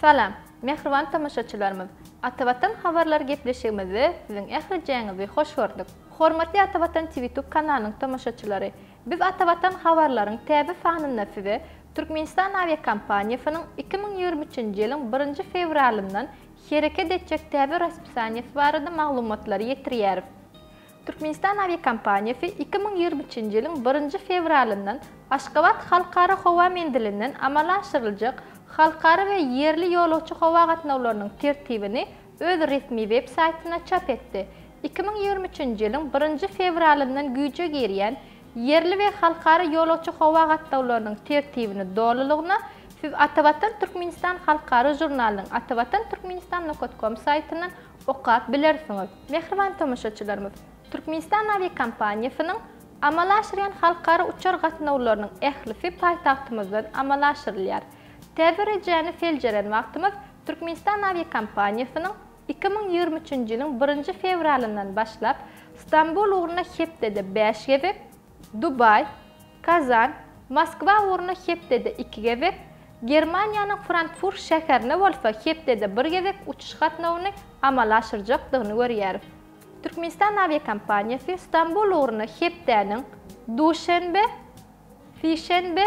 Salam, mähriban tomaşaçylarymyz! Atavatan habarlary gepleşigimizde siziň ählijeňizi hoş gördük. Hormatly Atavatan TVtube kanalynyň tomaşaçylary! Biz Atavatan habarlaryň täze sanynda size Türkmenistan awiakompaniýasynyň iki müň ýigrimi üçünji ýylyň birinji fewralyndan hereket etjek täze raspisaniýasy barada maglumatlary ýetirýäris. Türkmenistan awiakompaniýasy iki müň ýigrimi üçünji ýylyň birinji fewralyndan Aşgabat halkara howa menzilinden amala aşyryljak halkara we ýerli ýolagçy howa gatnawlarynyň tertibini öz resmi web saýtynda çap etdi. Iki müň ýigrimi üçünji ýylyň birinji fewralyndan güýje girýän Ýerli we halkara ýolagçy howa gatnawlarynyň tertibini dolulygyna siz Atavatan Türkmenistan halkara žurnalynyň atavatan-turkmenistan. Com saýtyndan okap bilersiňiz. Mähriban tomaşaçylarymyz, Türkmenistan awiakompaniýasynyň amala aşyrýan halkara uçar gatnawlarynyň ählisi paýtagtymyzdan amala aşyrylýar. Täze rejäni seljeren wagtymyz Türkmenistan awiakompaniýasynyň iki müň ýigrimi üçünji ýylyň birinji fewralyndan başlap Stambul ugruna hepdede bäş gezek, Dubaý, Kazan, Moskwa ugruna hepdede iki gezek, Germaniýanyň Frankfurt şäherine bolsa hepdede bir gezek uçuş gatnawyny amala aşyrjakdygyny görýäris. Türkmenistan awiakompaniýasy Stambul ugruna hepdäniň duşenbe, sişenbe,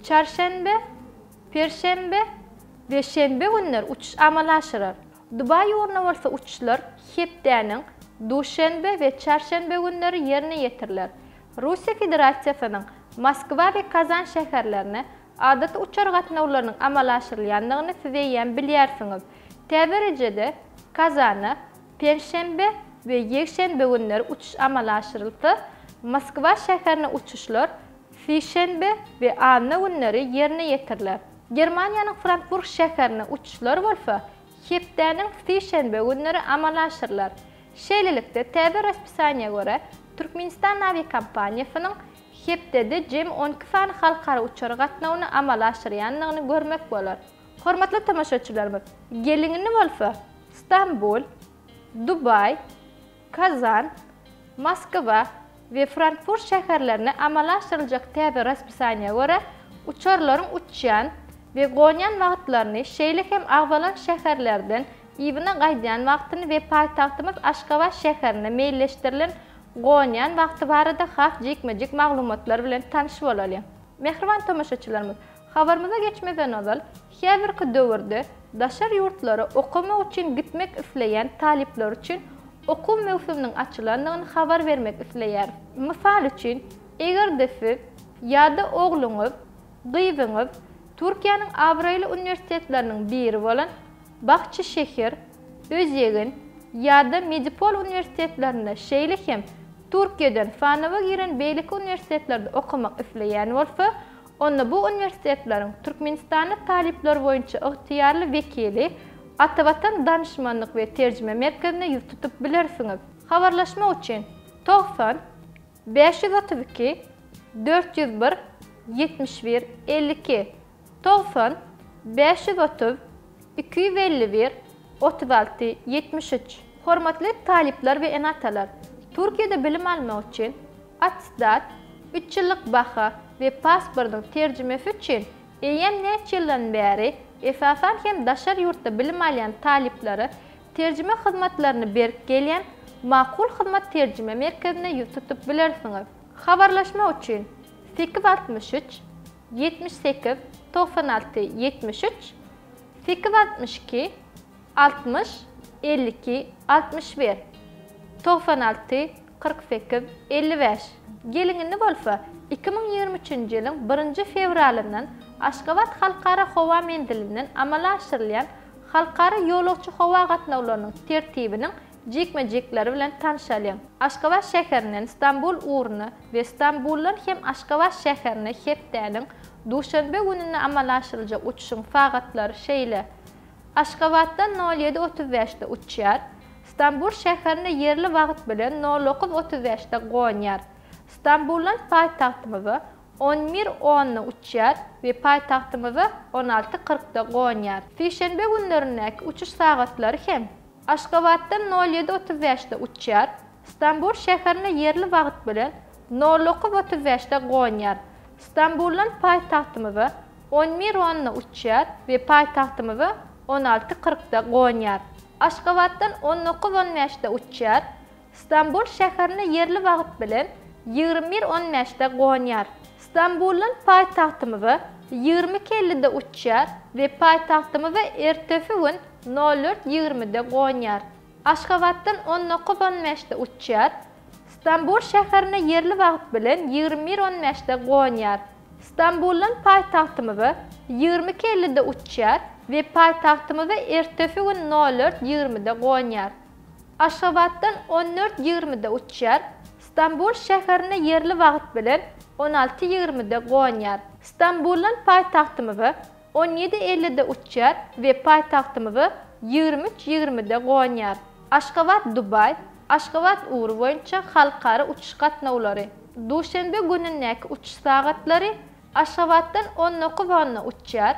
çarşenbe, perşenbe we şenbe günleri uçuş amala aşyrar. Dubaý ýuruna bolsa uçuşlar hepdäniň duşenbe we çarşenbe günleri ýerine ýetiriler. Russiýa Federasiýasynyň Moskwa we Kazan şäherlerine adaty uçar gatnawlarynyň amala aşyrylýandygyny siz eýýäm bilýärsiňiz. Tä birejede Kazana penşenbe we ýekşenbe günleri uçuş amala aşyrylsa, Moskwa şäherine uçuşlar sişenbe we anna günleri ýerine ýetiriler. Germaniýanyň Frankfurt şäherine uçuşlar bolsa hepdäniň sişenbe günleri amala aşyrylar. Şeýlelikde, täze raspisaniýa görä, Türkmenistan awiakompaniýasynyň hepdede jemi on iki sany halkara uçar gatnawyny amala aşyrýandygyny görmek bolar. Hormatly tomaşaçylarymyz, geligini bolsa Stambul, Dubaý, Kazan, Moskwa we Frankfurt şäherlerine amala aşyryljak täze raspisaniýa görä, uçarlaryň uçýan we gonýan wagtlaryny, şeýle hem agzalan şäherlerden yzyna gaýdýan wagtyny we paýtagtymyz Aşgabat şäherine meýilleşdirilen gonýan wagty barada has jikme-jik maglumatlar bilen tanyş bolalyň. Mähriban tomaşaçylarymyz! Habarymyza geçmezden ozal, häzirki döwürde daşary ýurtlara okamak üçin gitmek isleýän talyplar üçin okuw möwsüminiň açylandygyny habar bermek isleýäris. Mysal üçin, eger-de siz ýa-da ogluňyz, gyzyňyz Türkiýäniň abraýly uniwersitetleriniň biri bolan Bahçeşehir, Özýegin ýa-da Medipol uniwersitetlerinde, şeýle hem Türkiýeden sanawa giren beýleki uniwersitetlerde okamak isleýän bolsa, Onda bu uniwersitetleriň Türkmenistanda talyplar boýunça ygtyýarly wekili Atavatan Danyşmanlyk we Terjime Merkezine ýüz tutup bilersiňiz. Habarlaşmak üçin togsan bäş ýüz otuz iki dört ýüz bir ýetmiş bir elli iki, togsan bäş ýüz otuz iki ýüz elli bir otuz alty ýetmiş üç. Hormatly talyplar we ene-atalar! Türkiýede bilim almak üçin, Attestat, üç ýyllyk baha we pasportyň terjimesi üçin eýýäm näçe ýyldan bäri, esasan hem daşary ýurtda bilim alýan talyplara terjime hyzmatlaryny berip gelýän Makul hyzmat terjime merkezine ýüz tutup bilersiňiz. Habarlaşmak üçin sekiz altmyş üç, ýetmiş sekiz, togsan alty, ýetmiş üç, sekiz altmyş iki, Altmyş, elli iki, altmyş bir, togsan alty, kyrk sekiz, elli bäş. Geliň indi bolsa, iki müň ýigrimi üçünji ýylyň birinji fewralyndan Aşgabat Halkara howa menzilinden amala aşyrylýan halkara ýolagçy howa gatnawlarynyň tertibiniň jikme-jikleri bilen tanşalyň. Aşgabat şäherinden Stambul ugruna we Stambuldan hem Aşgabat şäherine hepdäniň duşenbe gününe amala aşyryljak uçuşyň sagatlary şeýle. Aşgabatdan nol ýedi otuz bäşde uçýar. Stambul şäherine ýerli wagt bilen nol dokuz otuz bäşde gonýar. Stambuldan paýtagtymyza on bir onda uçýar we paýtagtymyza on alty kyrkda gonýar. Sişenbe günlerindäki uçuş sagatlary hem Aşgabatdan nol ýedi otuz bäşde uçýar. Stambul şäherine ýerli wagt bilen nol otuz otuz bäşde gonýar. Stambuldan paýtagtymyza on bir onna uçýar we paýtagtymyza on alty kyrkda gonýar. Aşgabatdan on dokuz on bäşde uçýar. Stambul şäherine ýerli wagt bilen ýigrimi bir on bäşde gonýar. Stambuldan paýtagtymyza ýigrimi iki ellide uçýar we paýtagtymyza ertesi gün nol dört ýigrimide gonýar. Aşgabatdan on dokuz on bäşde uçýar. Stambul şäherine ýerli wagt bilen ýigrimi bir on bäşde gonýar. Stambuldan paýtagtymyza ýigrimi iki ellide uçýar we paýtagtymyza ertesi gün nol dört ýigrimide gonýar. Aşgabatdan on dört ýigrimide uçýar. Stambul şäherine ýerli wagt bilen on alty ýigrimide gonýar. Stambuldan paýtagtymyza On ýedi ellide uçýar we paýtagtymyza ýigrimi üç ýigrimide gonýar. Aşgabat Dubaý, Aşgabat ugry boýunça halkara uçuş gatnawlary. Duşenbe günündäki uçuş sagatlary Aşgabatdan on dokuz onda uçýar.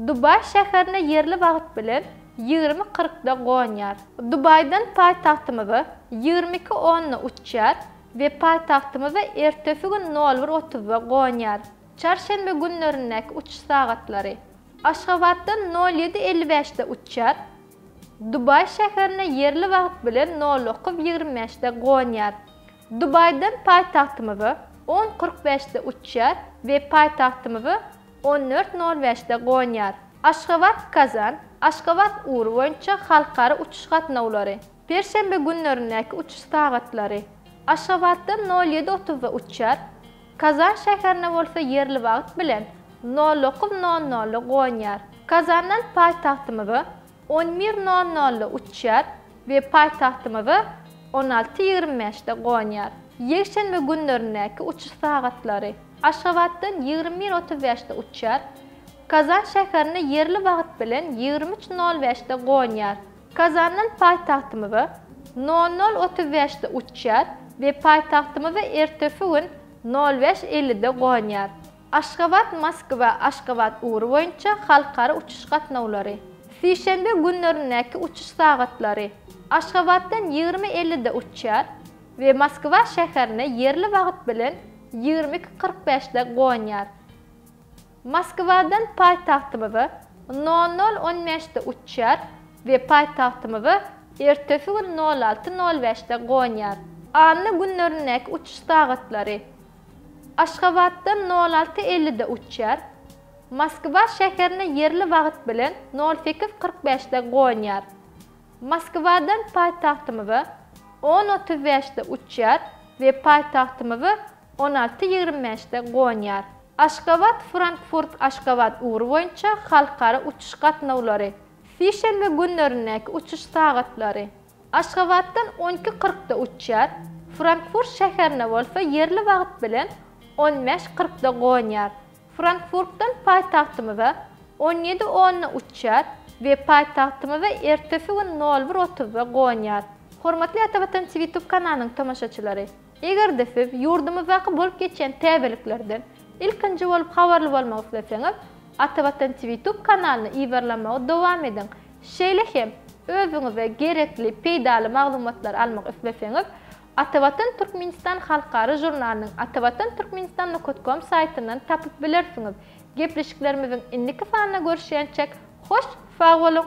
Dubaý şäherine ýerli wagt bilen ýigrimi kyrkda gonýar. Dubaýdan paýtagtymyza ýigrimi iki onda uçýar we paýtagtymyza ertesi gün nol bir otuzda gonýar. Çarşenbe günlerindäki uçuş sagatlary. Aşgabatdan nol ýedi elli bäşde uçýar, Dubaý şäherine ýerli wagt bilen nol dokuz ýigrimi bäşde gonýar, Dubaýdan paýtagtymyza on kyrk bäşde uçýar we paýtagtymyza on dört nol bäşde gonýar. Aşgabat, Kazan, Aşgabat ugry boýunça halkara uçuş gatnawlary. Perşenbe günlerindäki uçuş sagatlary. Aşgabatdan nol ýedi otuzda uçýar, Kazan şäherine bolsa ýerli wagt bilen nol dokuz nol nolda gonýar. Kazandan paýtagtymyza on bir nol nolda uçýar we paýtagtymyza on alty ýigrimi bäşde gonýar. Ýekşenbe günlerindäki uçuş sagatlary, Aşgabatdan ýigrimi bir otuz bäşde uçýar, Kazan şäherine ýerli wagt bilen ýigrimi üç nol bäşde gonýar. Kazandan paýtagtymyza nol nol otuz bäşde uçýar we paýtagtymyza ertesi gün nol bäş ellide gonýar. Aşgabat, Moskwa, Aşgabat ugry boýunça halkara uçuş gatnawlary. Sişenbe günlerindäki uçuş sagatlary, Aşgabatdan ýigrimi ellide uçýar we Moskwa şäherine ýerli wagt bilen ýigrimi iki kyrk bäşde gonýar. Moskwadan paýtagtymyza nol nol on bäşde uçýar we paýtagtymyza ertesi gün nol alty nol bäşde gonýar. Anna günlerindäki uçuş sagatlary, Aşgabatdan nol alty ellide uçýar, Moskwa şäherine ýerli wagt bilen nol sekiz kyrk bäşde gonýar. Moskwadan paýtagtymyza on otuz bäşde uçýar we paýtagtymyza On alty ýigrimi bäşde gonýar. Aşgabat, Frankfurt, Aşgabat ugry boýunça halkara uçuş gatnawlary. Sişenbe günlerindäki uçuş sagatlary. Aşgabatdan on iki kyrkda uçýar, Frankfurt şäherine bolsa ýerli wagt bilen on bäş kyrkda gonýar. Frankfurtdan paýtagtymyza on ýedi onda uçýar we paýtagtymyza ertesi gün nol bir otuzda gonýar. Hormatly Ata Watan TV Tube kanalynyň tomaşaçylary! Eger-de siz ýurdumyzdaky bolup geçýän täzeliklerden ilkinji bolup habarly bolmak isleseňiz, Atavatan TVtube kanalyny yzarlamagy dowam ediň. Şeýle hem, özüňize gerekli peýdaly maglumatlary almak isleseňiz, Atavatan Türkmenistan halkara žurnalynyň atavatanturkmenistan nukat kom saýtyndan tapyp bilersiňiz. Gepleşiklerimiziň indiki sanyna görüşýänçäk, hoş sag boluň!